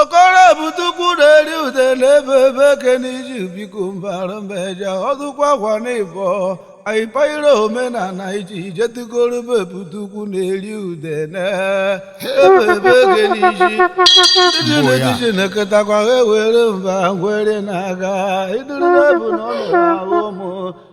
okoro bute ukwu na-eri ude n'ebe ebe eke n'iji biko mbara mbeja ọdụkwa akwa n'ịbọ anyị payịrị omenala iji ijetigoro be bute ukwu na-eri ude na ebe ebe eke n'iji ndị na-etiji na-eketakwa ha ewere mba ngwere na-aga iduru na-ebu na ọ na-ahụ ụmụ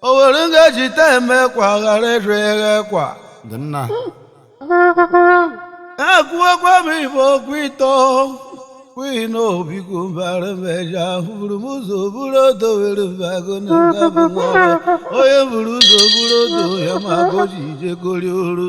o were ngaji ta eme kwa ghara ịrị eghe kwa dị nna ekwuokwa m igbo okwu ịtọ kwughị na obiko mbara meja buru m ụzọ buru odo were mbago na nga bụ nwa ọrụ. onye buru ụzọ buru odo ya ma goji ije gori oru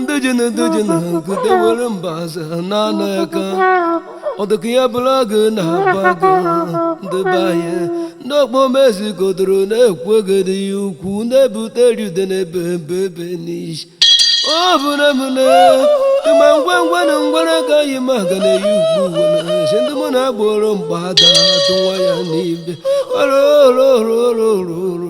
ndị ji na ndị ji na nkute were mbaze na-ana aka ọ dịka ya bụrụ agụ na-aba agụ ndị be anyị ndị okpomezi godoro na-ekwu egede ya ukwu na-ebute eri ude n'ebe ebe ebe n'ishi ọ bụ na m na ịma ngwa ngwa na ngwara ka yi ma ga na-eyi ugbu na si ndị mụ na-agboro mgbada atụwa ya n'ibe oro oro oro oro oro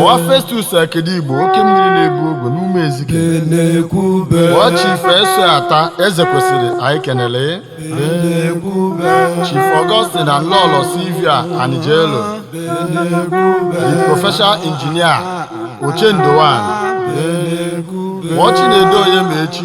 Ọwa Festus Akedi Igbo oke mmiri na-ebu ogwe n'ume ezike Ọwa Chief S.O. Ata eze kwesịrị anyị kenele Chief Augustine na Lolo Sylvia Anijelo the professional engineer Ochendo one Ọwa Chinedu Onyemechi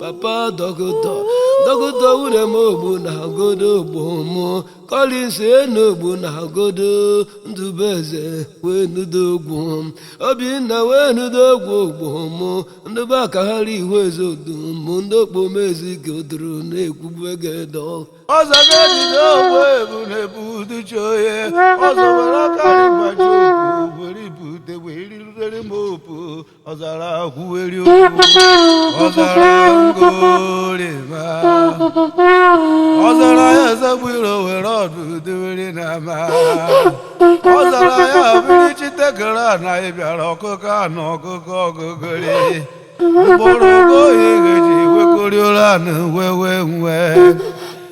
papa dọkịta dọkịta nwunye m ogbu na agodo ogbu mụ kọlins enu ogbu na agodo ndụbụeze wee nudo ogwu obinna wee nudo ogwu ogbu mụ ndị be aka ha ri ihu eze odu mụ ndị okpomezi godoro na-ekwubu egede ọzọ ga-ebido ogbu ebu na-ebu uduchi onye ọzọ were aka rịbaji ogbu were ibute wee rirere m opu ọzara kwuweri ọzara ngorima ọzara ya ezegbiro were ọdụ dewere n'ama ọzara ya biri chitekere ana ị bịara ọkụkọ anụ ọkụkọ ọgụgụrị mkpụrụ ogo oyi ga-eji wekoriola na wewe nwe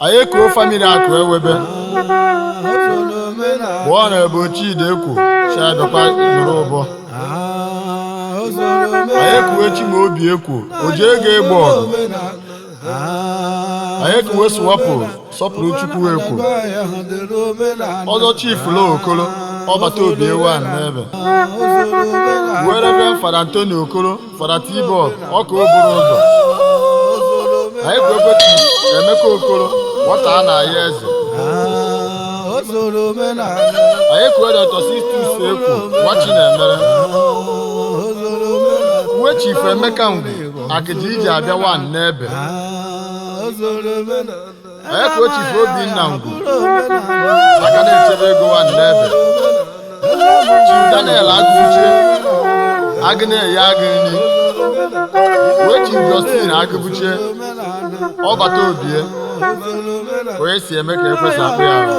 anyị ekuo famili akụ ewebe bụ ọ na-ebu chidi ekwu chiadọkwa nụrụ ụbọ anyị ekuwe chimaobi ekwu o ji ego egbo ọgụ anyị ekuwe sụwapụ sọpụrụ chukwu ekwu ọzọ chifu lo okoro ọbata obie one n'ebe wee reverend fada antoni okoro fada tibọ ọka o buru ụzọ anyị kuwe chifu emeka okoro nwata a na-aya eze anyị kuwe dọkta sistus ekwu nwa chinemere uwe chifu emeka ngwu akịja iji abịa wan n'ebe anyị kuwe chifu obinna ngwu aka na-echebe ego wan n'ebe chifu daniel agụbuche agụ na-eye agụ nri wee chifu justin agụbuche ọbata obie onye si eme ka ekwesị akpụ ya ahụ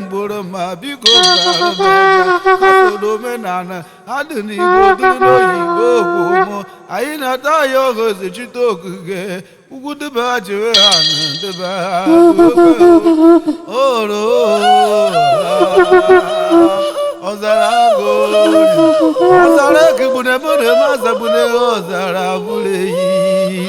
mgboro ma biko gbara m aka. asụrụ omenala ha dị n'igbo dịrị n'oyibo okwumo anyị na-ata ya ogozi chite okike ugwu dịba jiri ha na dịba oro ọzara agụ ọzara ekigbu na ebe ọ na-eme azagbu na ọzara bụrụ eyi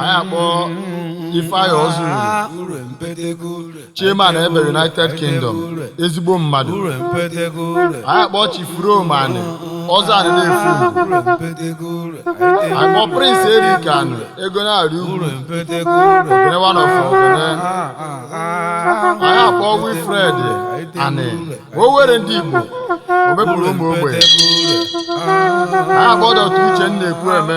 anyị akpọ ifeanyị ọzọ chairman ebe united kingdom ezigbo mmadụ anyị akpọ chief rome anị ọzọ anị na-efu anyị kpọ prince eric anị ego na-arị ugwu ogene one of ogene anyị akpọ wilfred anị owere ndị igbo omepụrụ ụmụ ogbenye anyị akpọ dọkta uchenna ekwueme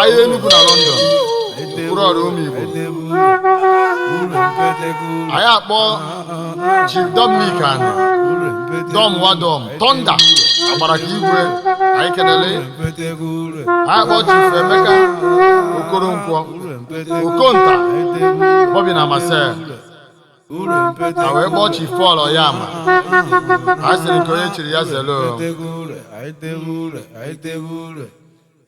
ahịa Enugu na London mkpụrụ ọrụ ụmụ Igbo anyị akpọ Chief Dominic Ani Dom Wadom Thunder agbara ka igwe anyị kelele anyị akpọ Chief Emeka Okoronkwo Okonta Bobby na Marcel a wee kpọọ Chief Paul Oyama a sịrị nke onye chiri ya zelu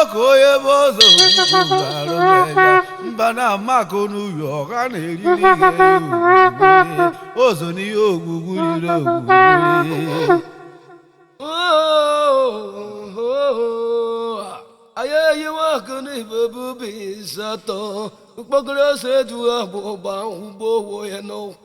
ọkụ onye bụ ọzọ mba na amakụ n'uyo ọha na-eriri ọzọ n'ihe ogwugwu riri ogwugwu anyị eyiwe akụ n'ibe bubi nsatọ mkpokoro ose ejughị agbụgba ụgbọ owo ya n'ụkwụ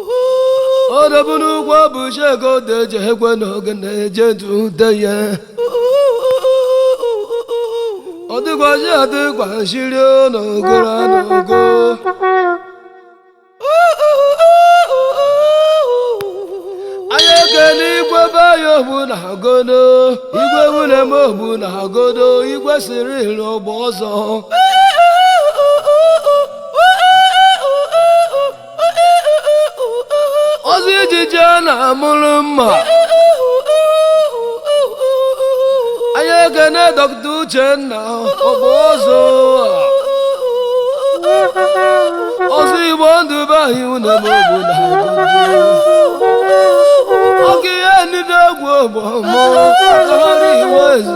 odobunu ụgwọ bụ shego deje ekwe n'oge na-eje dute ya ọ dịgwazi adịgwa shiri n'ogoro n'ogo anyị ekele igwe be ya ogbu na agodo igwe nwunye m ogbu na agodo igwe siri iri ọgba ọzọ ọzọ ijiji a na-amụrụ mma anyị ekene dọkịta uchenna ọbụ ọzọ ọzọ igbo ndụ be anyị une m obodo oge ihe nile egwu ogbo mụ ọrụ iwe ezu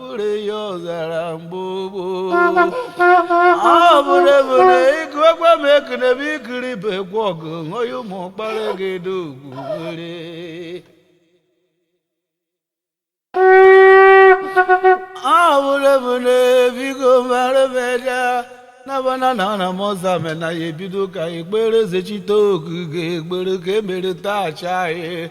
bụrụ ya ọzara mgbe gboo ọ bụrụ ebere ịgụ egwe m ekene bụ ikiri bụ egwu ọgụ ṅụghị ụmụ ọkpara gị dị ugwu were awụrụbụna biko mara meja nabana na ana m ọza me na ya ebido ka ekpere zechite oge ga-egbere ka emere taa cha anyị